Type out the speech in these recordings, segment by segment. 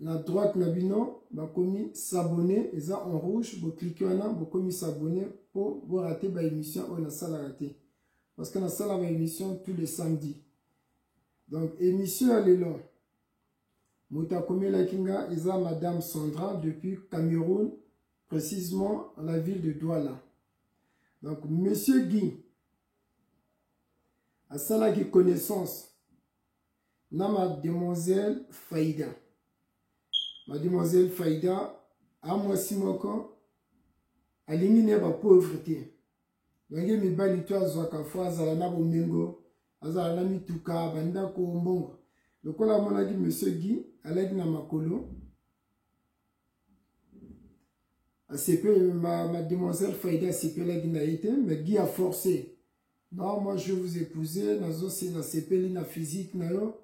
na droite na bino bakomi s'abonner eza en rouge boclike wana bokomi s'abonner mpo borate baémission oyo nasalaka te parce que nasala baémission tous les samedi donc émission ya lelo moto akomelaki nga eza madame sandra depuis cameroun précisement la ville de douala donc monsieur guy asalaki connaissance na mademoiselle faida mademoiselle faida a mwasi moko alingi ne bapauvre te ndenge mibali to azwaka fo azala na bomengo azala na mituka bandako mbongo lokola amonaki monsieur guy alaki na makolo asepeli mademoiselle faida asepelaki na ye te mais guy aforce Non, moi je vous épouser, nazo se na sepeli na physique na yo.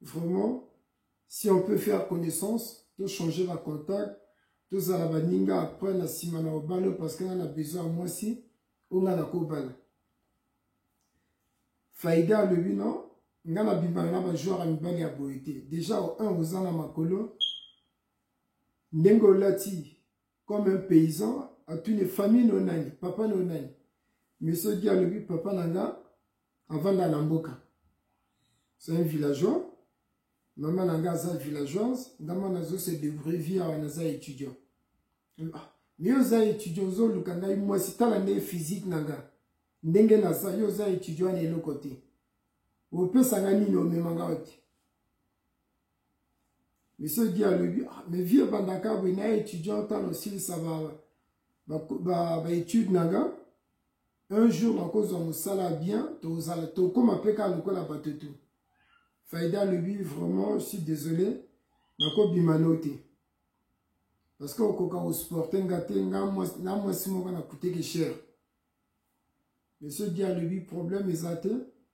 Vraiment, si on peut faire connaissance, to changer ba contact, to zala ba ninga après na sima na obalo parce que na besoin à moi si on a la kobala. Faïda le but non, nga na bimana na ba joueur à mibali ya boyete. Déjà au 1 aux ana makolo ndenge olati comme un paysan atuni famille no nani papa no nani monsieur di alobi papa na nga avanda na mboka c'est un villageois mama na nga aza villageoise nga mwa nazo se debrouille vie awa naza étudiant ah, yo oza étudiant ozoluka ngai mwasi tala nde physique na nga ndenge naza yo oza étudiant na eloko te opesa nga nini omema nga ote Monsieur Guy alobi, ah, mais vieux bandaka boye na étudiant ntango osilisa baétude na nga un jour nakozwa mosala bien tozala tokóma mpe kaka lokola bato tu faida alobi vraiment si désolé nakobima no te parce que okoka kosporte nga te nga na mwasi moko nakuteki cher monsieur di alobi problème eza te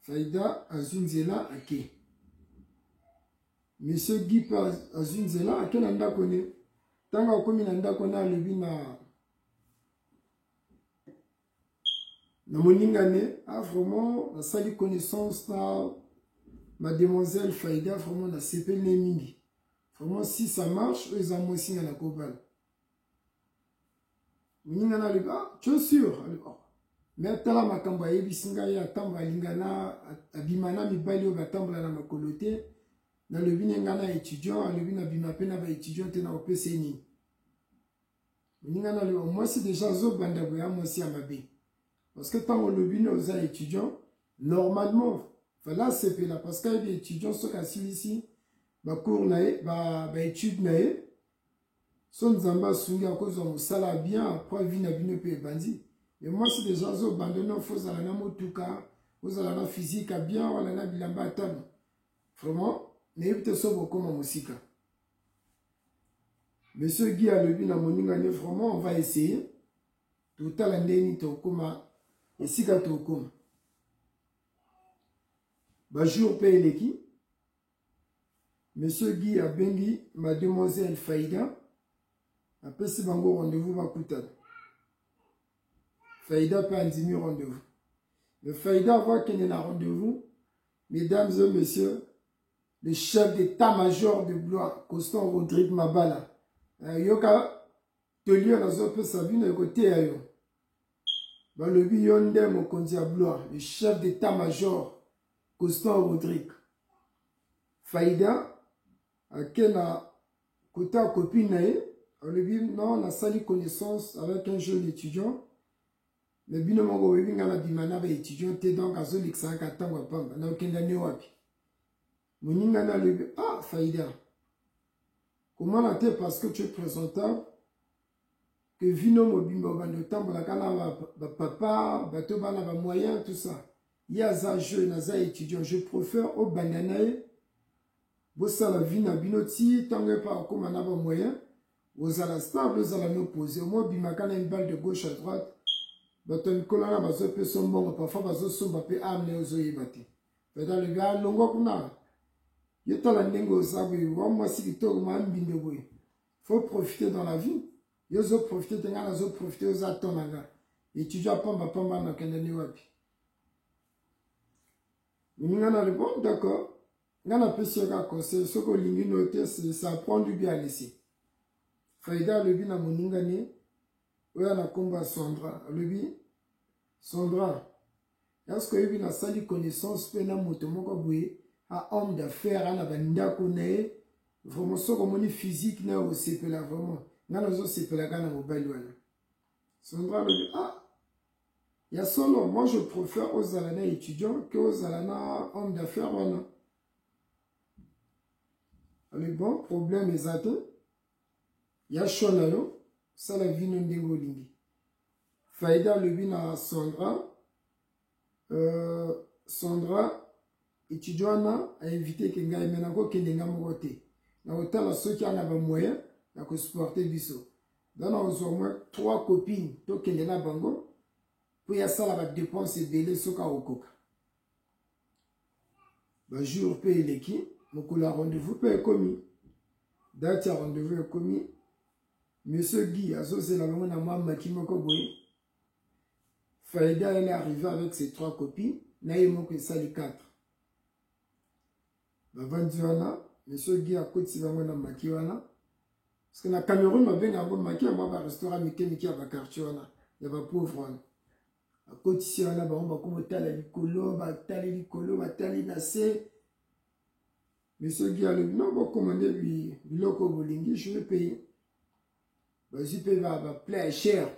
Faida azwi nzela ake. Monsieur Guy mpe azwi nzela ake na ndako ne. Ntango akomi na ndako na alobi na na moninga ne ah vraiment nasali connaissance na mademoiselle Faida vraiment nasepeli ne mingi vraiment si ça marche oyo eza mwasi nga na kobala moninga na alobi ah tu es sûr alobi ah me atala makambo ayebisi ngai ye atambola alinga na abima na mibali oyo batambola na makolo te nalobi ne ngai na étudiant alobi nabima mpe na baétudiant te na kopesa ye nini moninga na alobi mwasi deja azobanda boya mwasi ya mabe parce que ntango olobi ne oza étudiant normalement fale asepela parce que ayebi étudiant soki asilisi bacours na ye baétude na ye so nzambe asungi akozwa mosala ya bien apres vie na bino mpe ebandi me mwasi deja azobanda no fo ozala na motuka ozala na physique ya bien wana na bilamba ya talo vraiment nayebi te so bokoma mosika monsieur guy alobi na moninga ne vraiment on va essayer totala ndenge nini tokoma esika tokoma bajour mpe eleki Monsieur Guy abengi mademoiselle Faïda apesi bango rendez-vous bakutana. Faïda mpe andimi rendez-vous. Mais Faïda avant akende na rendez-vous, mesdames et messieurs, le chef d'état-major de Blois, Constant Rodrigue Mabala, euh, yoka toli oyo nazopesa bino ekoteya yo. balobi yo nde mokonzi ya blois le chef d'état major constant rodrigue faida ake na kota ya copine na ye alobi non nasali connaissance avec un jeune étudiant me bino moko oyebi ngai nabima na baétudiant te donc azolekisa kaka ntango ya pamba na okenda ne wapi moninga na alobi ah faida komona te parce que tu es présentable que vie no mobimba obanda otambolaka na ba papa bato bana ba moyen tout ça ye aza jeune aza étudiant je préfère obanda na ye bosala vie na bino ti ntango epa okóma na ba moyen ozala stable ozala no pose omo obimaka na une balle de gauche à droite bato ya mikolo wana bazopesa mbongo parfois bazosomba mpe ame na ozoyeba te peda le gars alongwa kuna yo tala ndenge oza boye wa mwasi kitoko ma mbindo boye faut profiter dans la vie yo ozo profiter te ngai nazo profiter oza temps na ngai étudiant pamba pamba nakende ni wapi moninga na répondre d'accord ngai napesi yo kaka conseil soki olingi no te ça prend du bien laisser faida alobi na moninga ne oyo na nkombo ya sandra alobi sandra Est-ce que oyebi nasali connaissance mpe na moto moko boye a homme d'affaires ana bandako na ye vraiment soki omoni physique na osepela vraiment ngai nazosepela kaka na mobali wana sondra alobi ah ya solo moi je préfère ozala na étudiant ke ozala na homme d'affaires wana alobi bon problème eza te ya choix na yo sala vino ndenge olingi faida alobi na sandra euh, sandra etudio wana ainvite ke ngai me nakokende ngai moko te nakotala soki ana bamoyen ya kosuporte biso dana ozwa mwa trois copine tokende na bango mpo yasala badepense ebele soki akokoka bajour mpe eleki mokolo ya rendez-vous mpe ekomi date ya rendez-vous ekomi monsieur guy azozela bango na mwa maki moko boye faida ele arrive avec ses trois copies na ye moko esali 4 bavandi wana monsieur guy akotisi bango na maki wana parce que na cameroun babenga yango maki ya mwa barestaurant mike mike ya baquartier wana ya bapauvre wana bakotisi ye wana bango bakoma otala likolo batali likolo batali na se me soki alobi no bokoma nde biloko bolingi jue mpe bazwi mpe bapla ya chere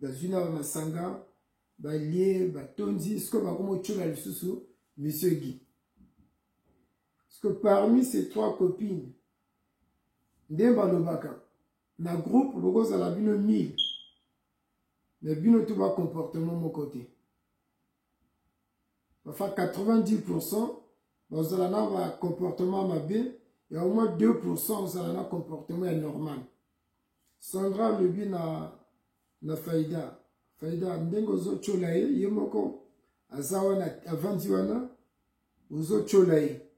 bazwi na bamasanga balie batondi sikoyo bakoma otyola lisusu monsieur guy que parmi ces trois copines nde balobaka na groupe bokozala bino 1000 mais bino tout ba comportement moko te bafa 90 pourcent bazala na ba comportement mabe ya au moins 2 pourcent ozala na comportement ya normal sandra alobi na na faida faida ndenge ozotyola ye ye moko aza wana avandi wana ozotyola ye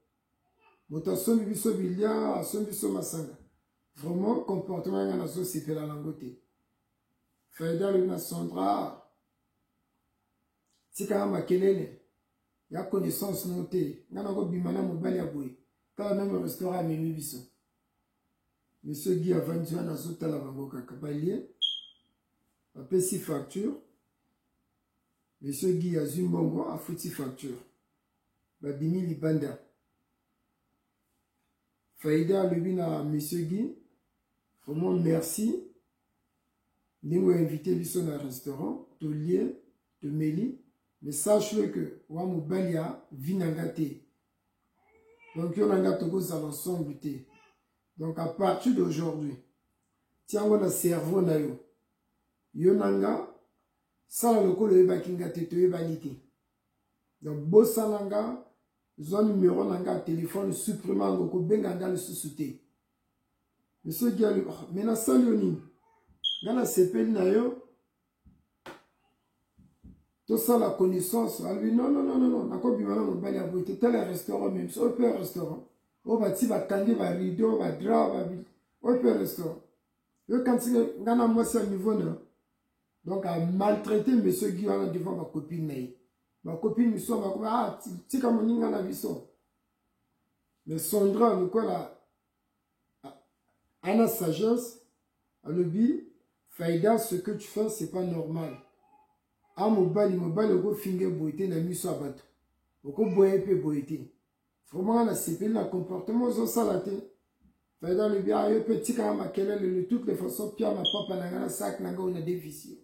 moto asombi biso bilia asombi biso masanga vraiment comportement yanga nazosepela nango te faida alobi na sandra tikaka makelele ya connaissance no te nga nakobima na mobali ya boye kaka meme restaurant amemi biso monsieur guy avandi wana azotala bango kaka balie bapesi facture monsieur guy azwi mbongo afuti facture babimi libanda faida alobi na monsieur guy vraiment merci ndenge oinvite biso na restaurant tolie tomeli mais sache que wa mobali ya vi na nga te donc yo na nga tokozala ensemble te donc à partir d'aujourd'hui tiango na cerveau na yo yo na nga sala lokola oyebaki nga te toyebani te donc bosana nga zwa numero na nga ya telefone supprime yango kobenga nga lisusu te monsieur giali oh, me nasali yo nini nga nasepeli na yo tosala connaissance alobi non non non non nakobima na mobali ya boye te tala restaurant meme oyo mpe restaurant oyo bati bakangi barideau badra oyo mpe restaurant yo kanisi nga na mwasi ya niveau na donc a maltraite monsieur Guy wana devant ba copine na ye ba copine misusu bakoba ah tika moninga na biso mais Sandra lokola ana sagesse alobi faida ce que tu fais c'est pas normal a mobali mobali okofinga boye te na miso ya bato okoboya mpe boye te vraiment nga nasepeli na comportement ozosala te faida alobi a yo mpe tikaka makelele le toutes les façon pia mapapa na nga na sak na nga oyo na devisio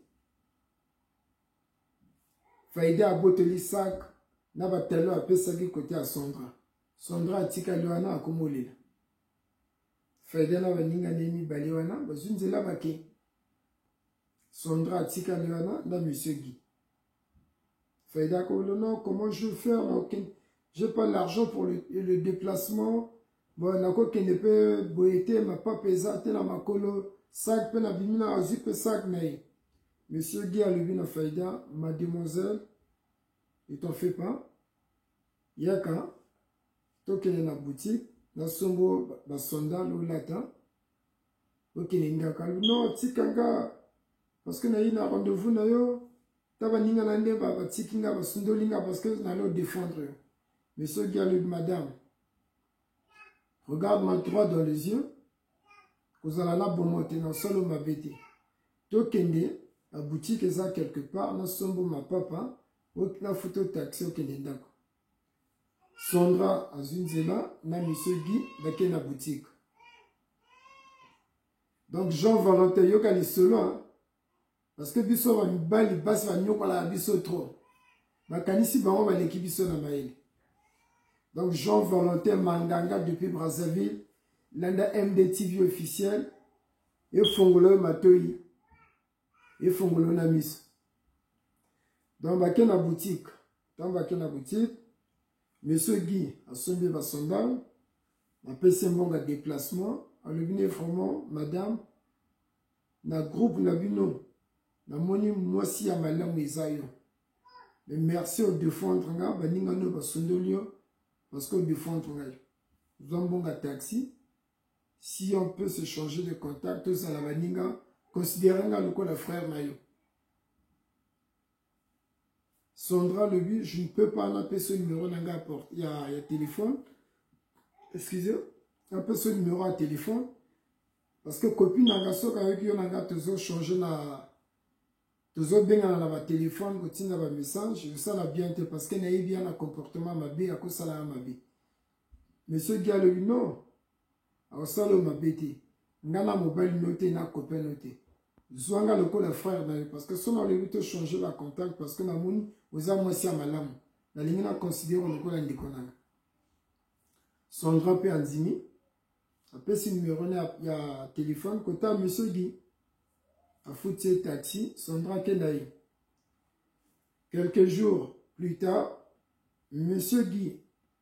faida abotoli sak na batalo apesaki kote ya sondra sondra atikali wana akomolela faida na baninga na ye mibale wana bazwi nzela bake sondra atikali wana na monsieur guy Faïda Kolono, comment je vais faire J'ai pas l'argent pour le, le déplacement. Bon, nako kende pe boyete ma papa eza te na makolo sac pe na bimina azui pe sac na ye. Monsieur Guy alobi na Faïda, mademoiselle, ne t'en fais pas. Yaka, tokende na boutique, na sombo basonda lolata. okende ngaka non tika nga parceke nayi na rendez-vous na yo ta baninga na nde batiki nga basundoli nga parceke nani odefendre yo mais soki alobi madame regarde ma droit dans les yeux kozala na bomo te na solo mabe te tokende na boutique eza quelque part nasombo mapapa nafuta taxi okende ndako Sondra azwi nzela na monsieur Guy bake na boutique. Donc Jean Valentin yoka lisolo hein? parce que biso ba mibali basi banyokolaka biso trop. Bakanisi bango baleki biso na mayele. Donc Jean Valentin Manganga depuis Brazzaville landa MDTV officiel efongola yo matoyi efongolo na miso donc bake na boutique ntango bake na boutique monsieur guy asombi basondal apesi mbongo ya déplacement alobi ne vraiment madame na groupe na bino namoni mwasi ya malamu eza yo mais merci odefendre nga baninga nio basundoli yo parce que odefendre ngai zwa mbongo ya taxi si on peut se changer de contact tozala baninga considere nga lokola frère na yo Sandra Lebu, je ne peux pas appeler ce numéro na nga il y a, y a téléphone. Excusez, appeler ce numéro à téléphone parce que copine na nga soka avec yo na nga tozo changer na tozo bengana na ba téléphone ko tinda ba message, ça la bien te parce que na bien na comportement mabe ya ko sala mabe. mais soki alobi non akosala oyo mabe te nga na mobali no te na copain no te zwa nga lokola frère na yo parce que so nalobi tochange bacontact parce que namoni oza mwasi ya malamu nalingi na considere lokola ndeko na nga sondra mpe andimi apesi numero na ya telefone kota monsieur di afuti ye taxi sondra akenda ye quelques jours plus tard monsieur di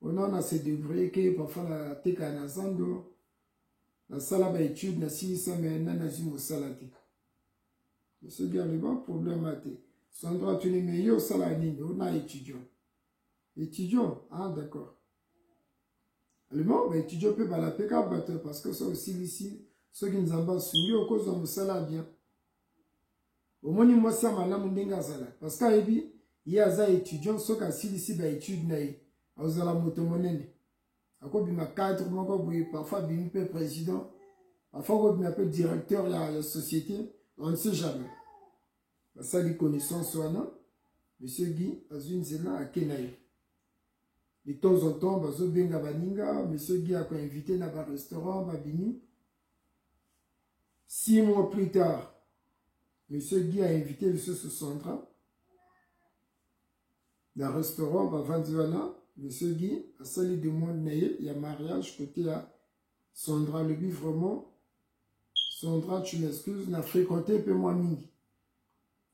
wana na se débrouiller ke parfois na teka na zando nasala ba étude nasilisa me na nazwi mosala te soki aleba problème a te sandra atuni me yo osala nini ona étudiant étudiant ah d'accord alema ba étudiant mpe balapeka bato parce que soki osilisi soki nzambe asungi okozwa mosala bien omoni mwasi ya malamu ndenge azala parce que ayebi ye aza étudiant soki asilisi baétude na ye akozala moto monene akobima cadre moko boye parfois abimi mpe président parfois akobima mpe directeur ya, ya société on ne sait jamais basali connaissance wana monsieur guy azwi nzela ake na ye de temps en temps bazobenga baninga monsieur guy akoinvite na barestaurant babimi Six mois plus tard, Monsieur Guy a invité le sous Sandra dans le restaurant Bavandiwana. Monsieur Guy a sali demande na ye ya mariage côté ya Sandra alobi vraiment Sandra tu m'excuses na fréquenté mpe mwa mingi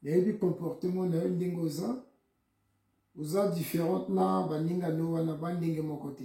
nayebi comportement na yo ndenge oza oza différente na baninga no wana bandenge moko te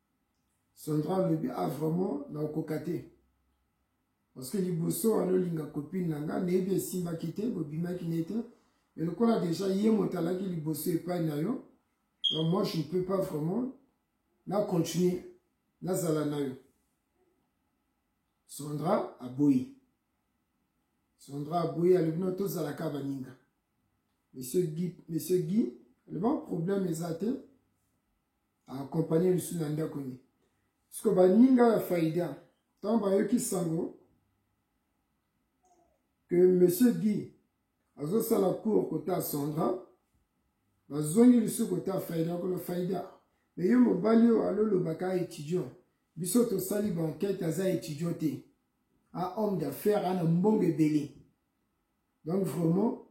Sandra alobi a ah, vraiment na okoka te parce que liboso wana olinga copine na nga nayebi esimbaki te bobimaki na ye te mais lokola déjà ye moto alaki liboso epai na yo donc moi je ne peux pas vraiment na continuer nazala na yo Sandra aboyi Sandra aboyi alobi no tozalaka baninga monsieur Guy monsieur Guy alobi problème eza te akompanye lisusu na ndako ne siko baninga ya faida ntango bayoki sango ke monsieur guy azosala cour kota sandra bazongi lisusu kota faida kolo faida me yo mobali oyo alolobaka étudiant biso tosali bankete aza étudiant te a homme d'affaires ana mbongo ebele donc vraiment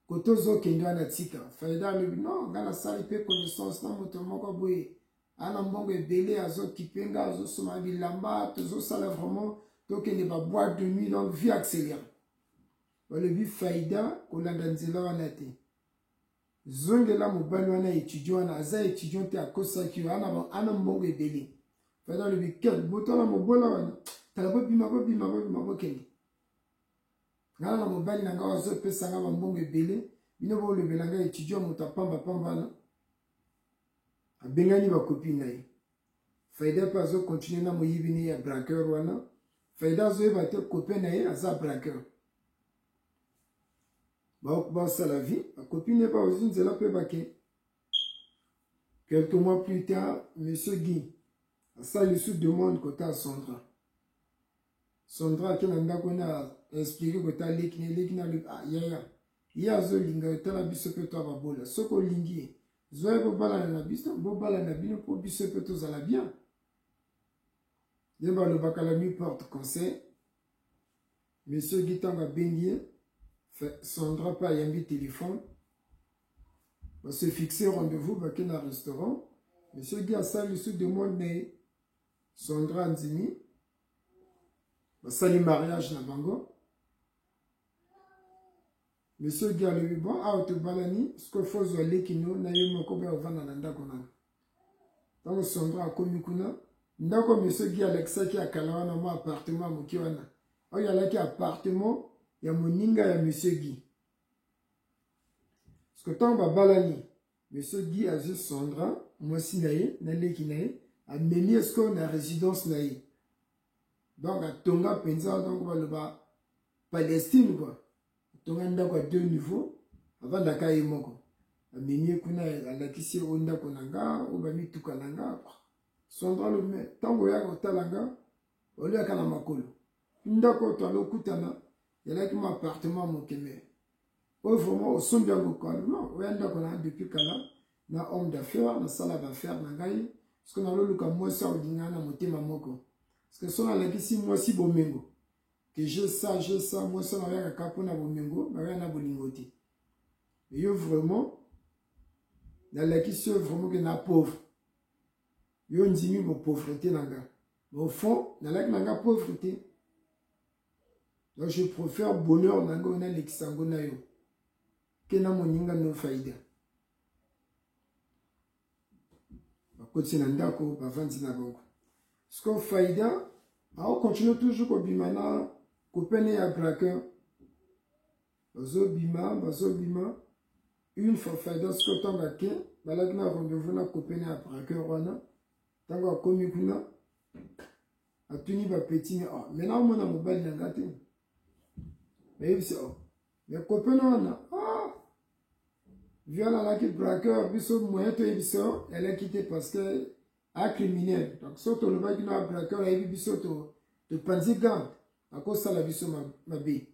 kote ozokende wana tika faida alobi no nga nasali mpe connaissance na moto moko boye ana mbongo ebele azokipe nga azosoma bilamba tozosala vraiment tokende baboite de nuit donc vie accéléré balobi faida kolanda nzela wana te zongela mobali wana étudiant wana aza étudiant te akosaki yo ana mbongo ebele faida alobi kel botala mobola wana tala bobima bobima bobima bokende ngai na mobali na ngai bazopesa ngai bambongo ebele bino bolobela ngai etudio moto apamba pamba wana abengani bakopi na ye faida mpe azokontinue na moyibi ne ya braqueur wana faida azoyeba te kope na ye aza braqueur basala vie bakopi na ye baozi nzela mpe bake quelques mois plus tard monsieur guy asali lisusu demande kota asondra Sondra ake na ndako ena explike ko ta leki na leki na leki ah yaya ye azolinga yo tala biso mpe to ababola soki olingi ye zwa ye bobalana na biso bobalana na bino mpo biso mpe tozala bien ye balobaka la nuit porte conseil monsieur gi ntango abengi ye sondra mpe ayambi telefone base fixe rendez-vous bake na restaurant monsieur gi asali lisusu demande na ye Sandra andimi basali mariage na bango monsieur gi alobi bon awa tobalani sikoyo fo ozwa leki no na ye moko boya ovanda na ndako nano ntango sondra akomi kuna ndako monsieur gi alakisaki ya kala wana mwa appartement ya moke wana oyo alaki appartement ya moninga ya monsieur gi siko ntango babalani Mais ce Guy azwi Sandra, mwasi na ye, na leki na ye, amemi ye sikoyo na résidence na ye. Donc atonga mpenza donc baloba Palestine quoi. Atonga ndako ya deux niveaux, avandaka ye moko. Amemi ye kuna alakisi ye o ndako na nga, o bamituka na nga. Sandra lobi, mais ntango oyaka kotala nga, oliaka na makolo ndako oyo twala okutana ezalaki mwa appartement moke me oyo vraiment osombi yango kala non oya ndako na depuis kala na homme d'affaire nasala baaffaire na ngai soki naloluka mwasi aolinga na motema moko soki so nalakisi mwasi bomengo ke je sa je sa mwasi oyo naoyaka kaka mpona bomengo naoya na bolingo te eyo vraiment nalakisi oyo vraiment ke na pauvre Yo ondimi bo pauvrete na nga. Mais au fond, nalaki na nga pauvre te. Donc je préfère bonheur na nga na lekisa yango na yo. Ke na moninga no faida. Bakoti na ndako, bavandi na bango. Siko faida, ao continue toujours kobima na kopene ya braqueur. bazobima bazobima une fois faida sikoyo ntango ake balaki na rendez-vous na kopene ya braqueur wana ntango akomi kuna atuni bapeti me ah, me naomona mobali na nga te nayebisi oh, me kopene wana ah, viol alaki braqueur biso moyen toyebi so eleki te parce que acriminel donc so tolobaki na braqueur ayebi biso topanzi gante akosala biso mabe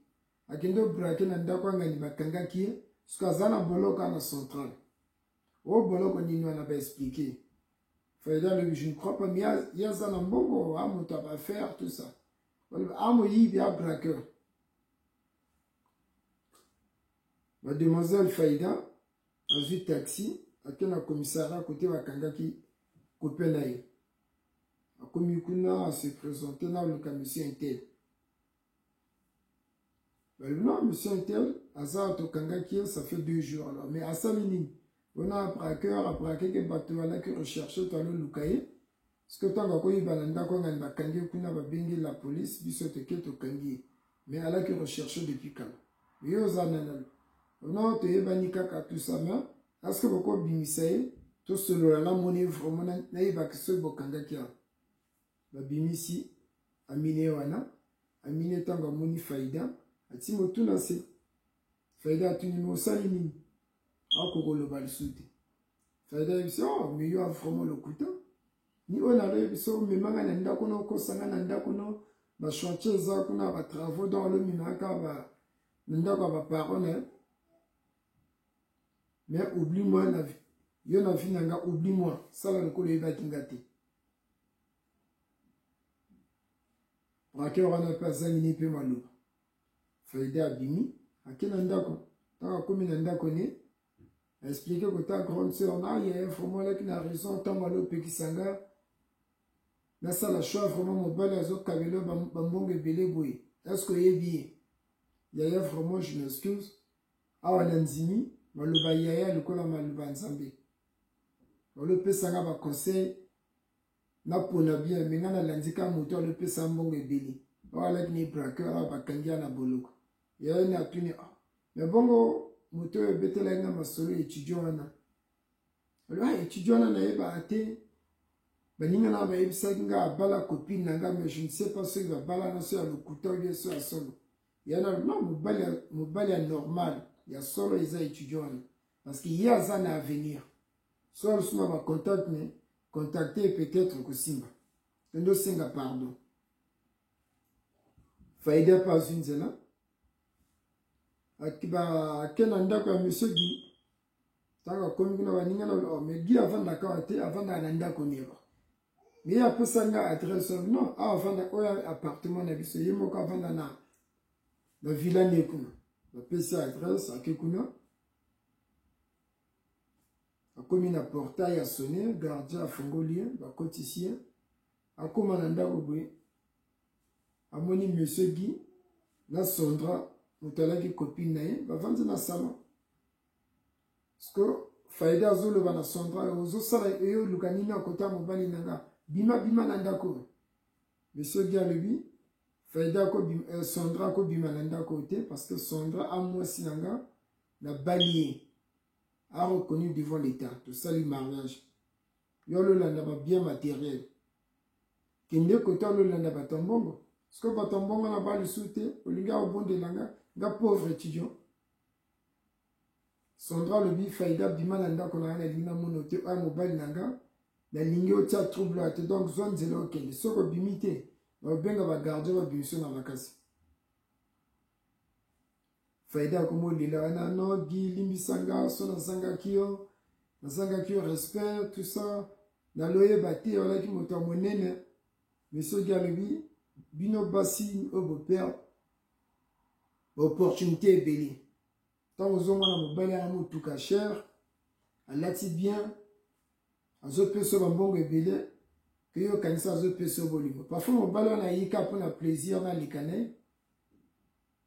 akende obrake na ndako ya ngani bakangaki ye soki aza na boloko ana central o oh, boloko nini wana baexplike faida alobi je ne crois pas mi ye aza na mbongo a moto ya bafaire tout ça balobi a moyibi a braqueur bademoiselle faida azwi taxi ake na commissariat kote bakangaki kope na ye akomi kuna asepresente na oluka monsieur intel Euh, non, monsieur Intel, aza tokangaki ye, ça fait deux jours alors. Mais asali nini? Wana abraqueur, abraqueke bato alaki recherche to aloluka ye. Soki ntango akoyeba na ndako anga bakangi ye kuna babengi la police, biso toke tokangi ye. Mais alaki recherche depuis kala. Yo oza na nani? Wana toyebani kaka tout ça, mais aske bokobimisa ye tosolola namoni ye vraiment nayebaki soki bokangaki yango. babimisi amine wana amine ntango amoni faida ati motu na nse faida atuni me osali nini akoki koloba lisusu te faida yebisi o oh, meyo avraiment lokuta ni oyo naloyebisa omema ngai na ndako no okosa ngai na ndako no bachantier eza kuna batravaux donc alomemaka ba na ndako ya baparo na ye mais oubli moi na yo na vie na nga oubli moi sala lokola oyebaki nga te braqueur wana mpe azangi ni mpe maloba faida abimi ake na ndako ntango akomi na ndako ne aexplike kota grande sœur na ye vraiment alaki na raison ntango alopekisa nga nasala choix vraiment mobali azokabela bambongo ebele boye eske oyebi ye yaya vraiment je m'excuse awa na ndimi maloba yaya lokola maloba nzambe olopesa nga ba conseil napona bien me nga nalandi ka moto alopesa mbongo ebele awalaki ni braqueur awa bakangi ya na boloko yayo ni atuni ah, me bongo moto oyo ebetelaki nga masolo etudio wana oloba ah, etudio wana nayebaka te baninga na bayebisaki nga abala copine na nga me je ne sais pas soki babala na so ya lokuta obie so ya solo yana no mobali ya normal ya solo eza etudio wana parce que ye aza na avenir soki alosu na bacontacte ne contacte ye peut-être kosimba ende osenga pardon faida mpe azwi nzela ake na ndako ya monsieur gi ntango akomi kuna baninga na oh, mais gi avandaka awa te avandaka na ndako neba mais ye apesa nga adresse oyo non awa avanda oyo appartement na biso ye moko avanda na na villa ne kuna bapesi adresse ake kuna akomi na portail ya sone gardien afungoli ye bakotisi ye akóma na ndako boye amoni monsieur gi na sondra moto alaki copine na ye bavandi na salon siko faida azoloba na sondra ozosala eye oluka nini akota mobali na nga bima bima na ndako monsieur gi alobi Faida ako bima, euh, Sondra ako bima na ndako te parce que Sondra a mwasi na nga na balie a reconnu devant l'état tosali mariage yo ololanda ba bien matériel kende koto ololanda bato ya mbongo sikoyo bato ya mbongo na balisu te olingi akobondela nga nga pauvre étudiant Sandra alobi Faida bima na ndako na nga nalingi namona ote oya mobali na nga nalingi otya trouble ya te donc zwa nzela okende soki obimi te naobenga bagardien babimiso na makasi Faida akomi olela wana no gi limbisa nga so nazangaki yo nazangaki yo respect tout ça naloyeba te olaki moto ya monene mais soki alobi bino basi oyo bopere baopportunité ebele ntango ozomona mobali yanga motuka cher alati bien azopesa yo bambongo ebele mpe yo okanisa azopesa yo bolingo parfum mobali wana ayika mpo na plaisir wana alika na ye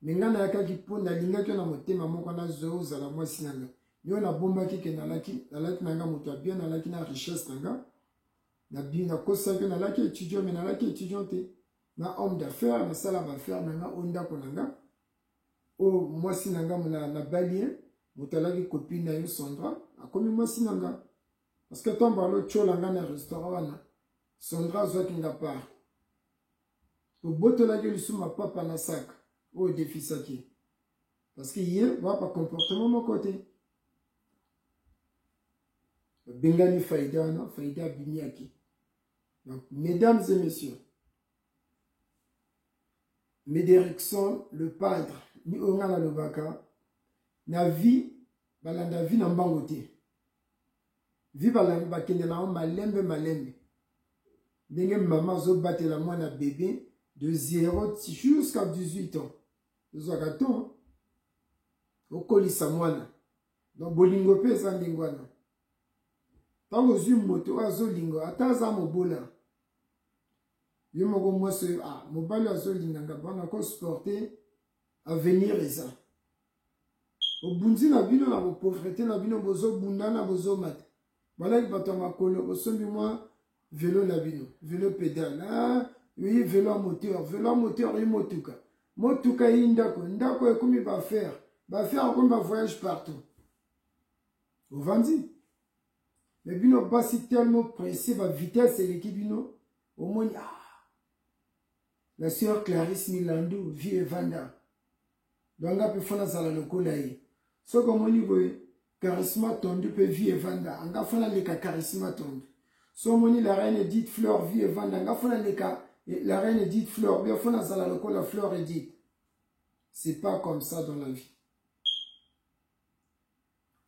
me ngai nayakaki mpo nalingaki yo na motema moko nazozala mwasi na ngai yo nabombaki ke nalaki nalaki na ngai moto ya bien nalaki na richesse na ngai nabi nakosaki nalaki étudiant me nalaki étudiant te na homme d'affaires nasala baaffaire na nga o ndako na nga oyo mwasi na nga na balien moto alaki copine na yo Sandra akomi mwasi na nga parce que ntango balotyola nga na restaurant wana Sandra azwaki nga part obotolaki lisusu mapapa na saka oyo defisaki parce que ye ba bacomportement moko te babengani faida wana faida abimiaki donc mesdames et messieurs Mederikson le padre ni oyo ngai nalobaka na vie balanda vie na mbango te vie balanda bakende na yango malembe malembe ndenge mama azobatela mwana bebe de 0 jusqu'à 18 ans ezwaka temps okolisa mwana donc bolingo mpe eza ndenge wana ntango ozwi moto oyo azolinga ata aza mobola ye moko mwasi oyo ah, mobali azolinganga bana ko sporte avenir eza obunzi na bino na bopauvreté na bino bozobundana bozomata balaki bato ya makolo bosombi mwa velo na bino velo pedale ah, oyi velo ya moteur velo ya moteur oyi motuka motuka eyi ndako ndako ekomi baaffaire baaffaire akomi bavoyage partout ovandi mais bino basi tellement presse ba vitesse eleki bino omoni ah la sœur Clarisse Milandu vie evanda donc nga mpe fo nazala lokola ye soki omoni boye charisma tondu mpe vie evanda anga fo naleka charisma tondu so omoni la reine edite fleur vie evanda anga fo naleka eh, la reine edite fleur bia fo nazala lokola fleur edite c'est pas comme ça dans la vie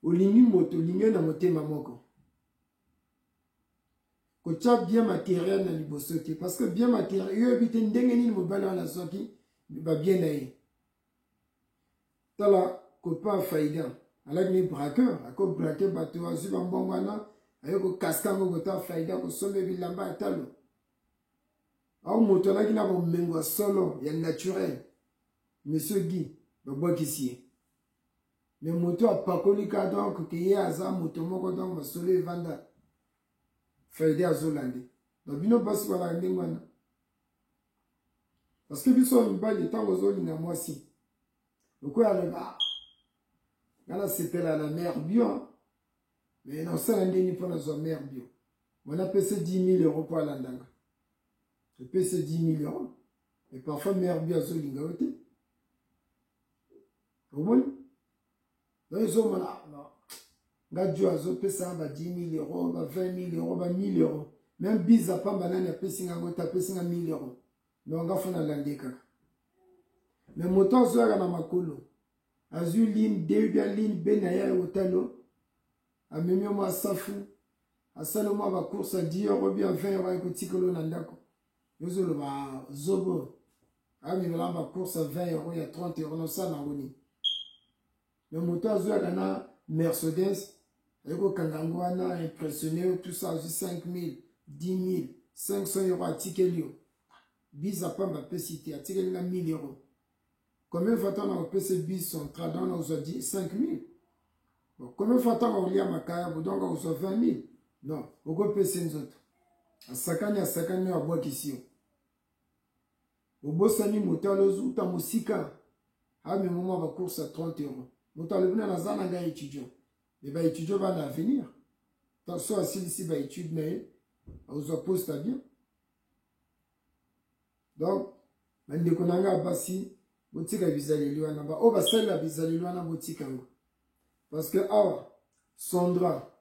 olingi moto olingi ye na motema moko kotya bien materiel na liboso te parce que bien materiel yo oyebi te ndenge nini mobali wana azwaki babien na ye tala copain faida alaki ni braqueur ako braque bato azwi bambongo wana aye kokasika yango kota faida kosomba bilamba ya talo ao moto alaki na bomengo ya solo ya naturel monsieur guy babwakisi ye me moto apakoli ka donc ke ye aza moto moko donc masolo evanda frede azolande donc bino basi balaka ndenge wana parce que biso ya mibali ntango ozolinga mwasi lokola aloba ah, nga nasepela na mare bio me nasala ndenge mpo nazwa mare bio wana apesi 10 000 euro mpo alandanga epesi 10 000 euro mais parfois mare bio azolinga yo te omoni donc ezomona nga jo azopesa ba 10 mille euro ba 20 mille euro ba 1000 euro meme biza pamba nani apesi nga yango te apesi nga 1000 euro donc nga fona lande kaka me moto azoyaka na makolo azwi line de bia line be na ye ya otalo amemi yo mwa safu asali mwa bacourse ya 10 euro bia 20 euro akotikolo na ndako Yozo loba zobo. Ami melamba course à 20 euros ya 30 euros na sana ngoni. Mais moto azoya kana Mercedes ayeko kanga ngo wana impressionné tout ça 5000, 10000, 500 euros atikeli yo. Biza pamba pesi te atikeli nga 1000 euros. Combien fois tanga kopese biso trada na ozwa 5000 bon combien fois tanga kolia makaya bodonga ozwa 20000 non okopese nzoto asakani asakani oyo abwakisi yo obosani moto alozuta mosika amema mwa bacourse ya 30 euro moto alobi na naza na ngai étudiant me baétudiant bana avenir so asilisi baétude na ye akozwa poste ya bien donc bandeko na ngai basi botika bizaleli wana baoyo basalela bizaleli wana botika yango parce que awa sandra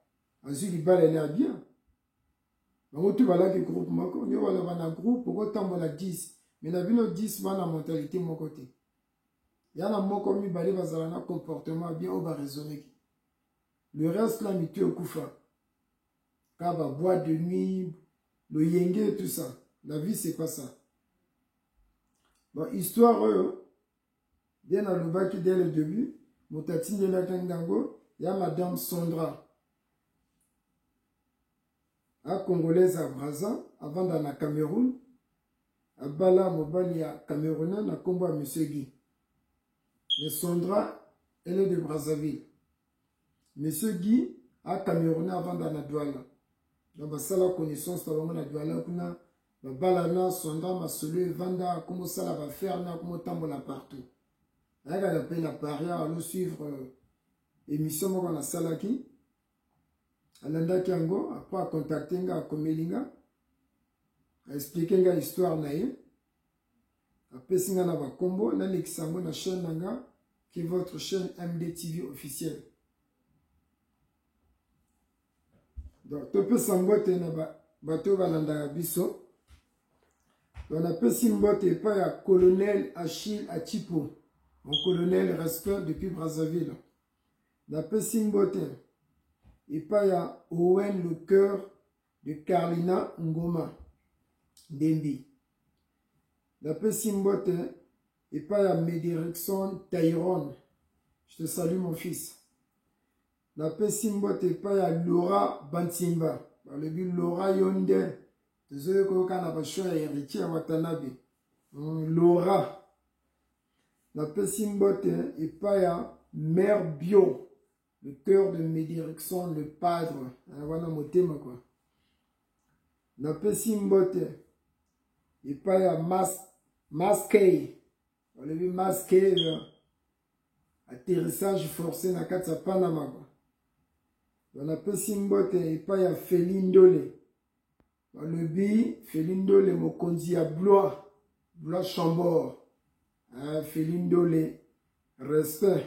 azwi libala ene ya bien bango tu balaki groupe moko nde wana bana groupe okotambola 10 me na bino 10 bana mentalité moko te yana moko mibale bazala na comportement ya bien oyo baraisonneki le reste la mitu ekufa kaba boîte de nuit loyenge tout ça la vie c'est pas ça bon histoire oyo bien alobaki dès le début moto atindelaki ngango ya madame sondra a congolaise ya braza avanda na cameroun abala mobali ya camerounais na nkombo ya monsieur guy le sondra ele de brazzaville Monsieur Guy, a Camerounais avanda na Douala. Donc basala connaissance na bango na Douala kuna babalana sonda masolo evanda akomosala bafere na akomotambola partout. Ayakaka mpe na Paris alo suivre euh, émission moko nasalaki alandaki yango apres akontakte nga akomeli nga aexplike nga histoire na ye apesi nga na ba kombo na lekisa yango na chaîne na nga qui est votre chaîne MDTV officielle donc topesa mbote na bato oyo balandaka biso donc napesi mbote epai ya colonel achille achipo mon colonel respect depuis brazzaville napesi mbote epai ya owen le cœur de Carlina Ngoma Ndembi. Napesi mbote epai ya Medirecson Tyrone. Je te salue mon fils. Napesi mbote epai ya Laura Bansimba. Balobi Laura yo nde tozoyi koyoka na basho ya Heritier Watanabe. Mm, Laura napesi mbote epai ya mare bio Le cœur de Medi Erickson, le padre, wana motema kwa. Napesi mbote epai ya mas, maskei olobi maskei atterrissage forcé na kati ya panama kwa banapesi mbote epai ya feli ndole balobi feli ndole mokonzi ya blois blois chambord feli ndole respect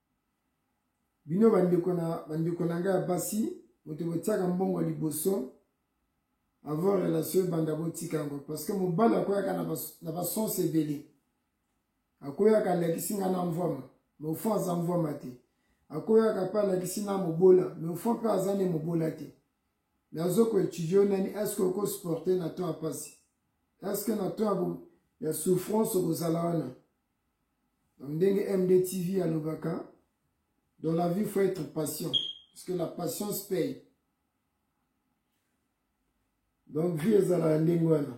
bino bandeko na bandeko na ngai ya basi moto botiaka mbongo liboso avant relation ebanda botika yango parce que mobali akoyaka na basonse ebele akoyaka alakisi ngai na mvwama me ofo aza mvwama te akoyaka mpe alakisi na mobola me ofo mpe aza nde mobola te nazo ko étudier yo nani est-ce que oko supporter na temps ya pasi est-ce que na temps ya ya souffrance okozala wana donc ndenge MD TV alobaka dans la vie faut être patient parce que la patience paye donc vie ezalaka ndenge wana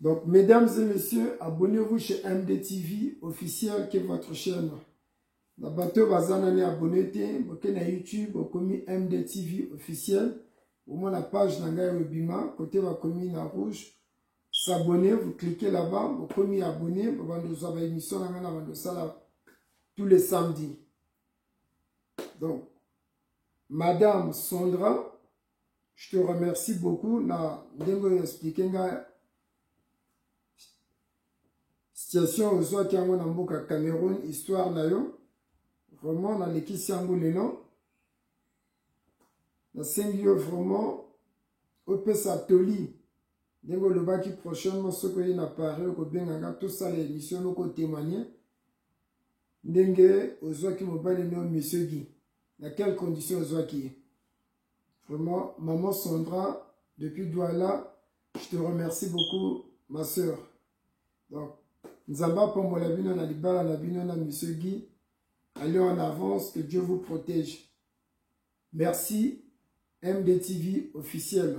Donc, mesdames et messieurs, abonnez-vous chez MDTV officiel qui est votre chaîne. Na bato bazana ni abonné te, boke na YouTube okomi MDTV officiel. Au moins la page na ngai webima côté ba commune na rouge. S'abonner, vous cliquez là-bas, vous pouvez abonner, vous avez une émission na ngana bando sala tous les samedis. Donc madame Sandra Je te remercie beaucoup na ndenge oyo expliquer ngai situation ozwaki yango na mboka Cameroun histoire na yo vraiment nalekisi yango lelo nasengi yo vraiment opesa toli ndenge olobaki prochainement soki oye na paris okobenga nga tosala émission loko témoigne ndenge ozwaki mobali nao monsieur gi na quelle condition ozwaki ye Vraiment, maman Sandra, depuis Douala, je te remercie beaucoup, ma soeur. Donc, Nzamba Pombo Labino, na Libala Labino, na Monsieur Guy, allez en avance, que Dieu vous protège. Merci, MDTV officiel.